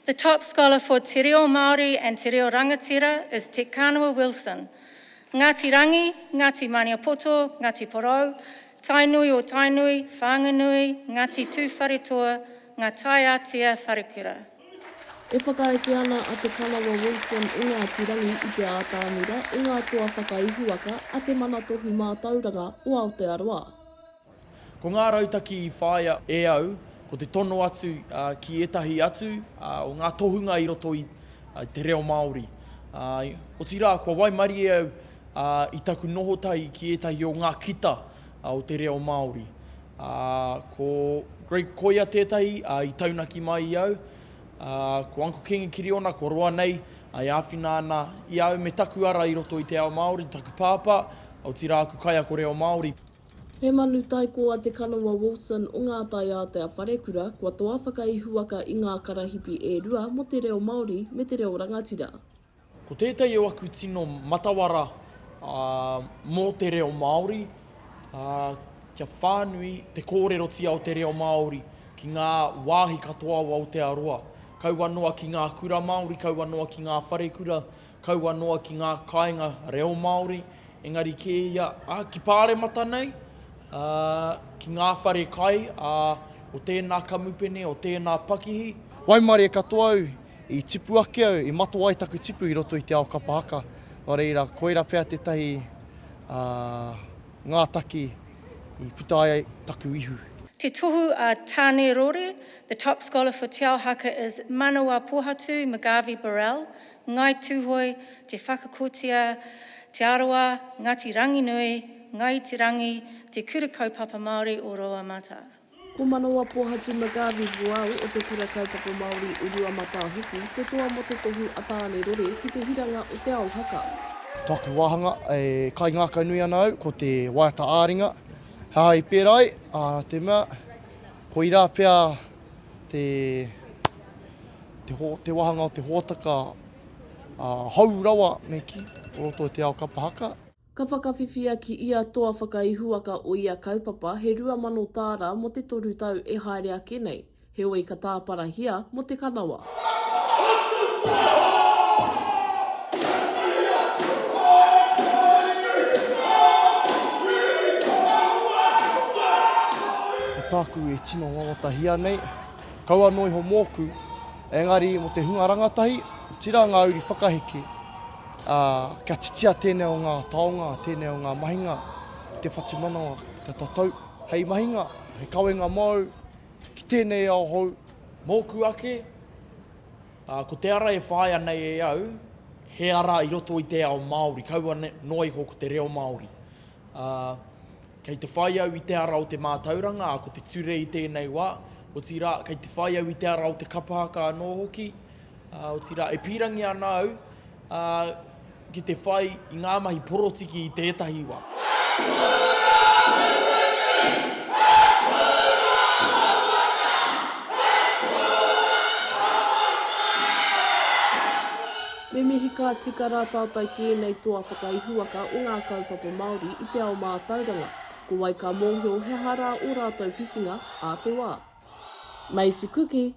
The top scholar for Te Reo Māori and Te Reo Rangatira is Te Kanawa Wilson, Ngāti Rangi, Ngāti Maniapoto, Ngāti Porou, Tainui o Tainui, Whanganui, Ngāti Tūwharetoa, Ngātaiātea, Wharekura. E whakaeke ana a Te Kanawa Wilson i Ngāti Rangi i te ātāmira o ngā toa whakaihuwaka a Te Mana Tohu Mātauranga o Aotearoa. Ko ngā rautaki i whāia e au, ko te tono atu ki ētahi atu o ngā tohunga i roto i te reo Māori. Otirā, kua waimarie au i taku noho tahi ki ētahi o ngā kita o te reo Māori. Ko Greg Koia tētahi i taunaki mai i au. Ko Uncle Kingi Kiriona, kua roa nei, e āwhina ana i a au me taku ara i roto i te ao Māori, taku pāpā, otirā aku kaiako reo Māori. He manu tai koa Te Kanawa Wilson o Ngā Tai Ātea Wharekura kua toa whakaihuwaka i ngā karahipi e rua mō te reo Māori me te reo rangatira. Ko tētahi o aku tino matawara mō te reo Māori, kia whānui te kōrerotia o te reo Māori ki ngā wāhi katoa o Aotearoa. Kaua noa ki ngā kura Māori, kaua noa ki ngā wharekura, kaua noa ki ngā kāinga reo Māori, engari kē ia ki Pāremata nei, ki ngā whare kai o tēnā kamupene, o tēnā pakihi. Waimarie katoa au, i tipu ake au, i matoa ai taku tipu i roto i te ao kapa haka, nō reira, koira pea tētahi ngātaki i puta ai taku ihu. Te tohu a Tāne Rore, The top scholar for Te Ao Haka is Manawa Pohatu McGarvey-Burrell, Ngāi Tūhoe, Te Whakakotia, Te Arawa, Ngāti Ranginui, Ngāi Iti Rangi, Te Kura Kaupapa Māori o Rouamata. Ko Manawapohatu McGarvey Huau o Te Kura Kaupapa Māori o Ruamatā hoki te toa mō te tohu a Tāne Rore ki te hiranga o Te Ao Haka. Tōku wāhanga e kaingākau nui ana au ko te waiata ā-ringa. He aha i pērā ai? Ā, te mea, koirā pea. te te wahanga o te hōtaka hou rawa me kī, o roto i te ao kapa haka. Ka whakawhiwhia ki ia toa whakaihuwaka o ia kaupapa he rua mano tāra mō te toru tau e haere ake nei, heoi ka tāparahia mō te kanawa. Ko tāku e tino wawatahia nei, kaua noa iho mōku, engari mō te hunga rangatahi, otirā ngā uri whakaheke, ā, kia titia tēnei o ngā taonga, tēnei o ngā mahinga, te whatumanawa, te tatau, hei mahinga, hei kawenga māu, Ki tēnei ao hou. Mōku ake, ā, ko te ara e whāia nei e au, he ara i roto i te ao Māori, kaua noa iho ko te reo Māori. Ā, kei te whai au i te ara o te mātauranga, ā, ko te ture i tēnei wā, otirā, kei te whai au i te ara o te kapa haka anō hoki, Otirā, e pīrangi ana au ki te whai i ngā mahi porotiki i tētahi wā. Me mihi ka tika rā tātai ki ēnei toa whakaihuwaka o ngā kaupapa Māori i te ao mātauranga. Ko wai ka mōhio he aha rā ō rātou whiwhinga ā te wā. Maisie Kuki,